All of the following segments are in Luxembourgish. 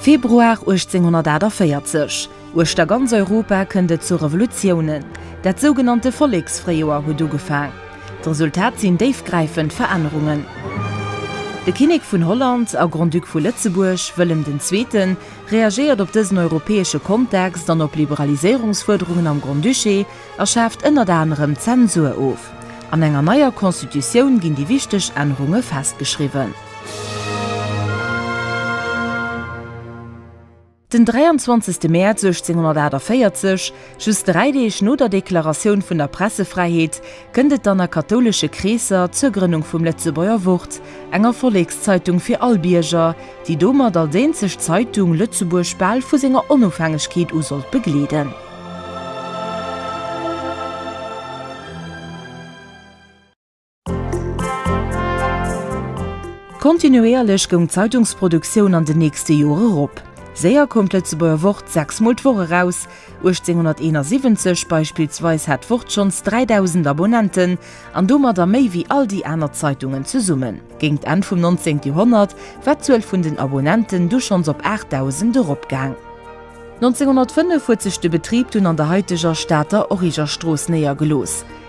Februar 1848, Uechter ganz Europa kënnt et zu Revolutiounen. Dat sougenannte Volleksfréijoer huet ugefaang. D'Resultat sinn déifgräifend Verännerungen. De Kinnek vun Holland a Grand-Duc vu Lëtzebuerg, Wëllem den Zweeten, reagéiert op dësen europäesche Kontext an op Liberaliséierungsfuerderungen am Grand-Duché a schaaft ënnert anerem d'Zensur of. An enger neier Constitutioun ginn déi wichteg Ännerunge festgeschriwwen. Den 23. Mäerz 1848 Just dräi Deeg no der Deklaratioun vun der Pressefräiheet kënnt et dann a kathoulesche Kreesser zur Grënnung vum Lëtzebuerger Wort, enger Vollekszeitung fir all Bierger, déi domat als eenzeg Zeitung Lëtzebuerg bal vu senger Onofhängegkeet u sollt begleeden. Kontinuéierlech goung d'Zeitungsproduktioun an den nächste Jore erop. Séier koum d'Lëtzebuerger Wort sechs Mol d'Woch eraus, 1871 beispillsweis hat d'Wort schonns 3.000 Abonnenten an domadder méi wéi all déi aner Zeitungen zesummen. Géingt Enn vum 19. Joerhonnert war d'Zuel vun den Abonnenten du schonns op 8.000 eropgaang. 1905 huet sech de Betrib dunn an der haiteger Stater Origerstrooss néiergelooss.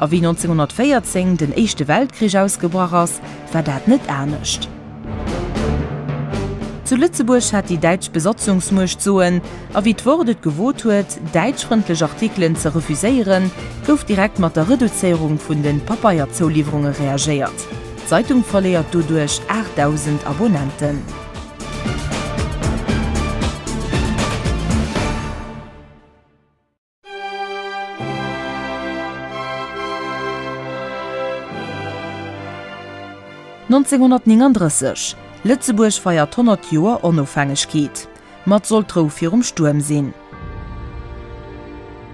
A wéi 1914 den Éischte Weltkrich ausgebrach ass, war dat net anescht. Zu Lëtzebuerg hat déi däitsch Besatzungsmuecht d'Soen, a wéi d'Wort et gewot huet, däitschfrëndlech Artikelen ze refuséieren, gouf direkt mat der Reduzéierung vun de Papeierzouliwwerunge reagéiert. D'Zeitung verléiert doduerch 8.000 Abonnenten. 1939, Lëtzebuerg feiert d'Honnert Joer Onofhängegkeet, mat Soll d'Rou virum Stuerm sinn.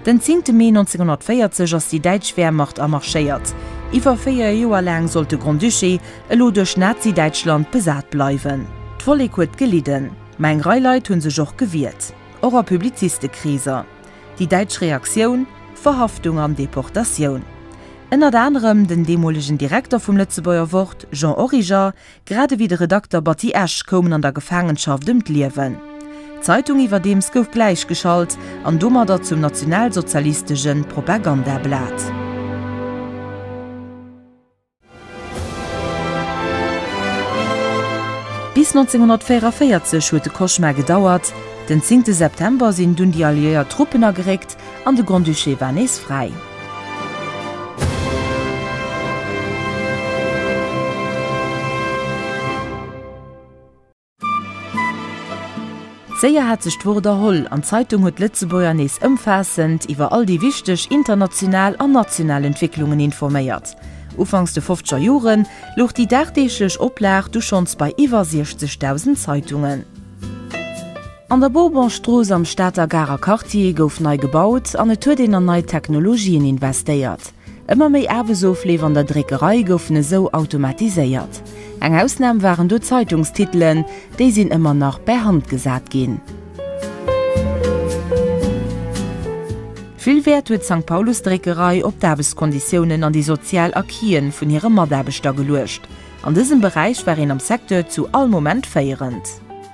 Den 10 Mee 1940 ass déi däitsch Wehrmacht amarschéiert, iwwer véier Joer laang sollt de Grand-Duché elo duerch Nazi-Däitschland besat bleiwen. D'Vollek huet gelidden, ma eng Rei Leit hu sech och gewiert. och a Publizistekreeser. Déi däitsch Reaktioun, Verhaftung an Deportatioun. Ënnert anerem den deemolegen Direkter vum Lëtzebuerger Wort, Jean Origer, grad ewéi de Redakter Batty Esch koumen an der Gefaangenschaft ëm d'Liewen. D'Zeitung iwwerdeems gouf gläichgeschalt an domadder zum nationalsozialistege Propagandablat. Bis 1944 huet de Koschmar gedauert. Den zéngte September sinn dunn déi alliéiert Truppen ageréckt an de Grand-Duché war nees fräi. Séier hat sech d'Wort erholl an d'Zeitung huet d'Lëtzebuerger nees ëmfaassend iwwer all déi wichteg international an national Entwécklungen informéiert. Ufanks de fofzeger Jore louch déi dagdeeglech Oplag du schonns bei iwwer 60.000 Zeitungen. An der Bourbonstrooss am Stater Garer Quartier gouf nei gebaut an et huet een an nei Technologien investéiert. Ëmmer méi Aarbechtsofleef an der Dréckerei goufen esou automatiséiert. Eng Ausnam waren do d'Zeitungstitelen, déi sinn ëmmer nach bär Hand gesat ginn. Vill Wäert huet d'Sankt Paulus Dréckerei op d'Aarbechtskonditiounen an déi sozial Acquisen vun hire Mataarbechter geluecht. An dësem Beräich war een am Secteur zu all Moment féierend.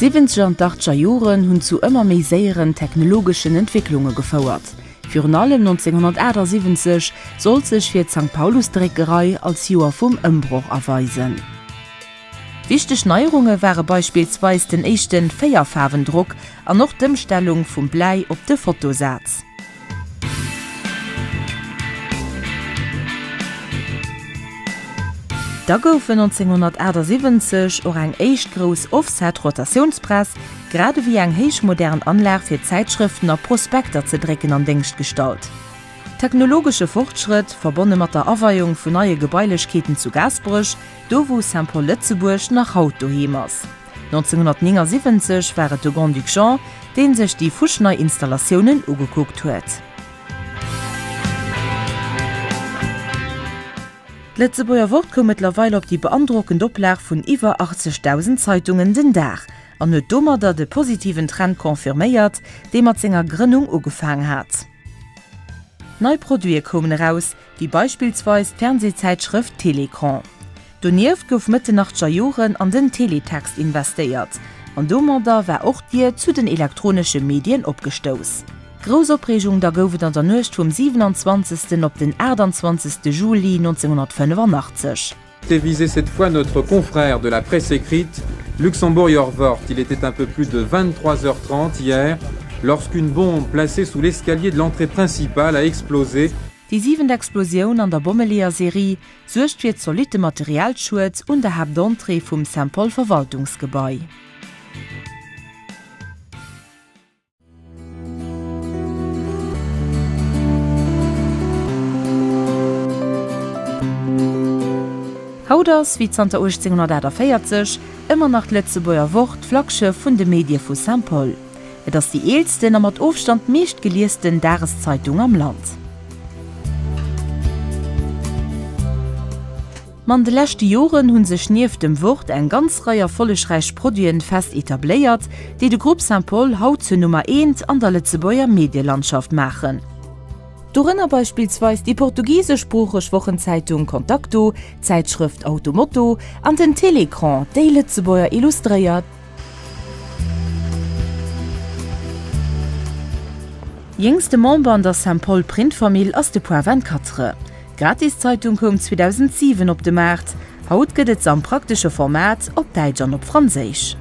D'Siwwenzeger an d'Achtger Joren hunn zu ëmmer méi séieren technologeschen Entwécklunge gefouert. Virun allem 1978 sollt sech fir d'Sankt-Paulus-Dréckerei als Joer vum Ëmbroch erweisen. Wichteg Neierunge ware beispillsweis den éischte Véierfaarwendrock an och d'Ëmstellung vum Bläi op de Fotosaz. Da gouf 1978 och eng éischt grouss Offset-Rotatiounspress, grad ewéi eng héichmodern Anlag fir Zäitschrëften a Prospekter ze drécken, an Déngscht gestallt. Technologesche Fortschrëtt, verbonne mat der Aweiung vun neie Gebailechkeeten zu Gaasperech, Do wou Saint-Paul Lëtzebuerg nach haut doheem ass. 1979 war et de Grand-Duc Jean, dee sech déi fuschnei Installatiounen ugekuckt huet. D'Lëtzebuerger Wort koum mëttlerweil op déi beandrockend Oplag vun iwwer 80.000 Zeitungen den Dag an huet domadder de positiven Trend confirméiert, dee mat senger Grënnung ugefaang hat. Nei Produite koumen eraus, wéi beispillsweis d'Fernsehzäitschrëft Télécran. Donieft gouf Mëtt den achtger Joren an den Teletext investéiert, an domadder war och d'Dier zu den elektronesche Medien opgestouss. Grouss Opreegung da gouf et an der Nuecht vum 27. op den 28. Juli 1985. Devisé cette fois notre confrère de la presse écrite luxemburger Wort, il était un peu plus de 23 heures 30 hier lorsqu'une bombe placée sous l'escalier de l'entrée principale a explosé. Déi siwent Explosioun an der Bommeleeër-Serie suergt fir zolitte Materialschued un der Haaptentrée vum St-Paul-Verwaltungsgebai. Haut ass, wéi zanter 1848, ëmmer nach d'Lëtzebuerger Wort d'Flaggschëff vun de Medie vu Saint-Paul. Et ass déi eelsten a mat Ofstand meeschtgeliesden Dageszeitung am Land. An de leschte Joren hu sech nieft dem Wort eng ganz Rei erfollegräich Produiten fest etabléiert, déi de Groupe Saint-Paul haut zur Nummer eent an der Lëtzebuerger Medielandschaft maachen. Dorënner beispillsweis déi portugiseschsproocheg Wochenzeitung Contacto, d'Zäitschrëft Auto Moto an den Télécran, déi Lëtzebuerger Illustréiert. Jéngste Member an der Saint-Paul Print Famill ass de Point 24. D'gratis Zeitung koum 2007 op de Maart. Haut gëtt et se am praktesche Format, op Däitsch an op Franséisch.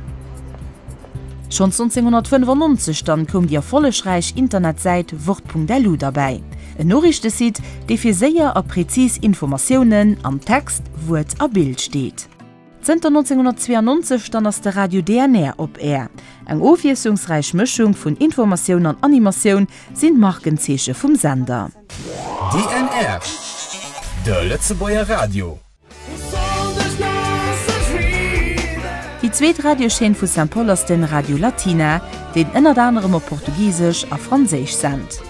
Schonns 1995 dann koum déi erfollegräich Internetsäit Wort.lu derbäi, en Noriichtesite, dee fir séier a prezis Informatiounen am Text, Wuert a Bild steet. Zënter 1992 dann ass de Radio DNR op Air. Eng ofwiesslungsräich Mëschung vun Informatioun an Animatioun sinn d'Markenzeeche vum Sender. DNR, de Lëtzebuerger Radio. Déi zweet Radiochaîne vu Saint-Paul ass de Radio Latina, deen ënnert anerem op Portugisesch a Franséisch sent.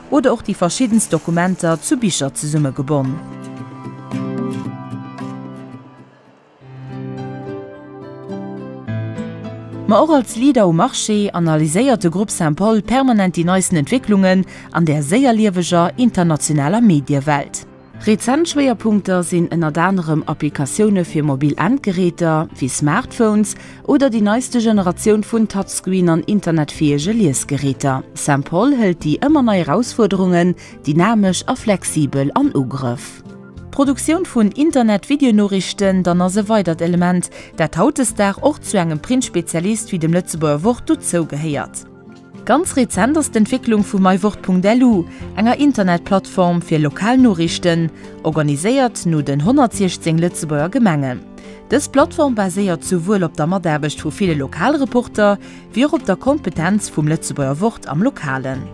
oder och déi verschiddenst Dokumenter zu Bicher zesummegebonn. Ma och als Leader um Marché analyséiert de Grupp Saint-Paul permanent déi neisten Entwécklungen an där séier lieweger internationaler Mediewelt. Rezent Schwéierpunkter sinn ënnert anerem Applikatioune fir mobil Endgeräter, wéi Smartphones, oder déi neiste Generatioun vun Touchscreen an internetfäege Liesgeräter. Saint-Paul hëlt déi ëmmer nei Erausfuerderungen dynamesch a flexibel an Ugrëff. D'Produktioun vun Internet-Videonoriichten dann ass e weidert Element, dat hautdesdag och zu engem Printspezialist wéi dem Lëtzebuerger Wort dozougehéiert. Ganz rezent ass d'Entwécklung vu mywort.lu, enger Internetplattform fir lokal Noriichten, organiséiert no den 116 Lëtzebuerger Gemengen. Dës Plattform baséiert souwuel op der Mataarbecht vu ville Lokalreporter, wéi och op der Kompetenz vum Lëtzebuerger Wort am Lokalen.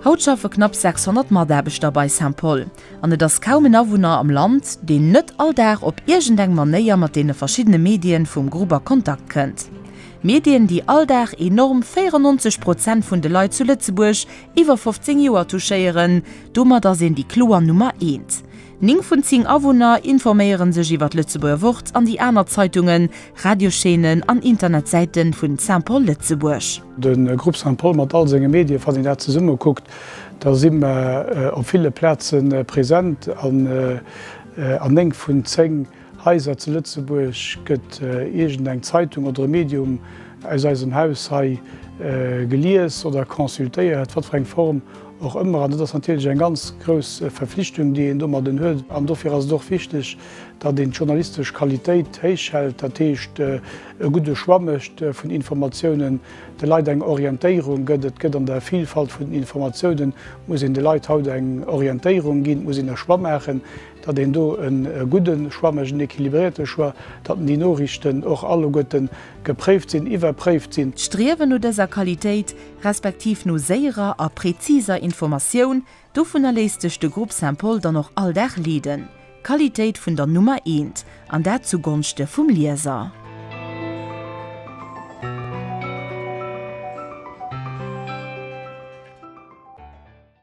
Haut schaffe knapp 600 Mataarbechter bei Saint-Paul, an et ass kaum en Awunner am Land, deen net all Dag op iergendeng Manéier mat deene verschiddene Medien vum Grupp a Kontakt kënnt. Medien, déi all Dag enorm 94 Prozent vun de Leit zu Lëtzebuerg iwwer 15 Joer touchéieren. Domat ass een déi kloer Nummer eent. Ning vun zing Awunner informéiere sech iwwer d'Lëtzebuerger Wort an déi aner Zeitungen, Radioschaînen an Internetsäite vun Saint-Paul Lëtzebuerg. De Grupp Saint-Paul mat all senge Medien, wann een dat zesumme kuckt, da si mer op ville Plaze present an ning vun zéng. Haiser zu Lëtzebuerg? Gëtt iergend eng Zeitung oder e Medium aus eisem Haus hei gelies oder consultéiert, wat fir eng Form och ëmmer? An dat ass natierlech eng ganz grouss Verflichtung, déi een domadden huet. An dofir ass et och wichteg, datt een d'journalistesch Qualitéit héich hält, dat heescht e gudde Choix mécht vun Informatiounen, de Leit eng Orientéierung gëtt. Et gëtt an der Vilfalt vun den Informatiounen, muss een de Leit haut eng Orientéierung ginn, muss een e Choix maachen. datt een do e gudde Choix mécht, en équilibrierte Choix, datt déi Noriichten och alleguerte gepréift sinn, iwwerpréift sinn. D'Striewen no dëser Qualitéit, respektiv no séierer a präziser Informatioun, dovunner léisst sech de Grupp Saint-Paul dann och all Dag leeden. Qualitéit vun der Nummer eent, an dat zu Gonschte vum Lieser.